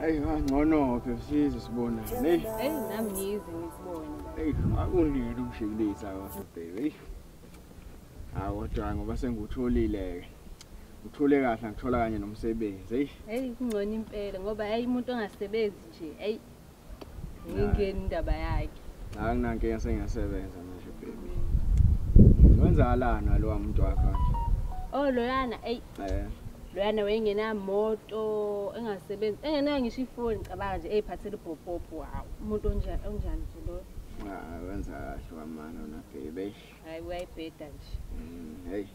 Hey, ngcono ke size sibona. Hey. Hey, nami ngize ngisibone. Hey, akulile umshikilisa waso baby. Hey. Hawo dwa ngoba sengutholile ke. Uthule kahle ngithola kanye nomsebenzi. Hey. Hey, kungcono impela ngoba hey umuntu ongasebenzi nje. Hey. ingeni indaba yakhe hayi nginankinga sengiyasebenza manje baby wenzakalani walowa muntu wakho oh loyana eyi eh loyana wayengenamoto engasebenzi engenayo ngisho ifoni cabanga nje eyiphathela ubhobhobho wawu umuntu onjani onjani nje loyo ah, wenza kahle wamana wona bebe hayi uyayibheda nje mm, heyi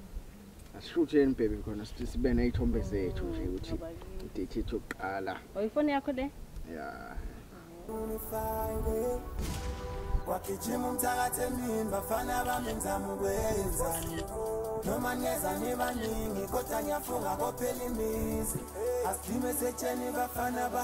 Asihlutheni baby khona sithi sibe nezithombe zethu nje ukuthi idate yethu yokuqala. Oyifoni yakho le? Yeah. Wagijima umthakathi emini bafana bami ngizama ukwenzani noma neza nibaningi kodwa ngiyafunga kophela imizi asidime setsheni bafana ba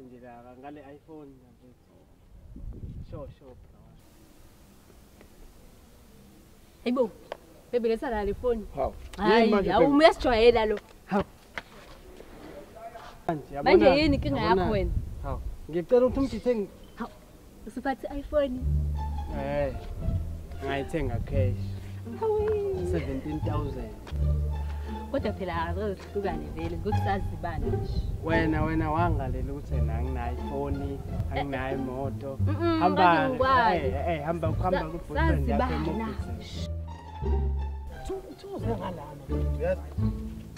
nje la ngale iPhone mfethu. Sure sure bro. Hayibo. Baby letha la le phone. Hawu. Hayi, awumu uyasijwayela lo. Hawu. Manje yabona. Manje yini inkinga yakho wena? Hawu. Ngicela ukuthi umdithe Usuphathe iPhone? Eh. Ngayithenga cash. 17000. Kodwa phela azozihlukane vele ngokusazibana nje. Wena wena wangalela ukuthi nanginayo iPhone, anginayo imoto. Hamba. Eh, eh hamba ukuhamba ku boyfriend yakhe. Sazibana. Thuze ngalana. Uyazi?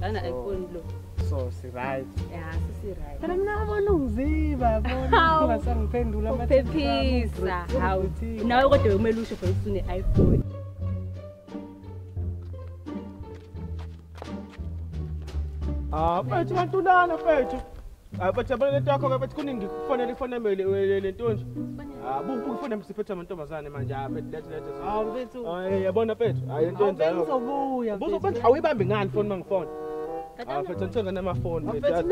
lana ayifuni lo so siryt phela mina abona ungiziba bonasangiphendula phephisa hawu nawe kodwa kumele usho for isune iphone Ah, pwede, mantulana, pwede. Abajabule lento yakho ke bethi kuningi kufanele ifoneme le nto nje. Ah buku ufone msiphethe amantombazane manje ah bethi lethi lethi. Ah mfethu. Ah yabona mfethu. Hayi into enzayo. Uzobuya. Buzo mfethu awuyibambi ngani phone mangifone. Ah mfethu ngithenga namafoni mfethu.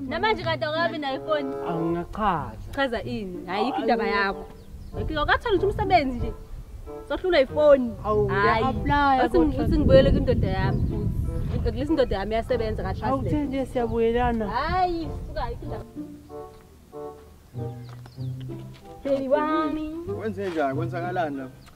Namanje kade akabi na iphone. Angingachaza. Chaza ini? Hayi ikho indaba yakho. Ngiyokathola ukuthi umsebenzi nje. Sohlulwa ifoni. Hawu, ngiyaplaya. Uthi ngibuyele kwindoda yami futhi. Ngilisa indoda yami yasebenza ka translate. Awuthe nje siyabuyelana. Hayi, suka ikinda. Baby wami. Kwenze njani? Kwenzakalani lapha?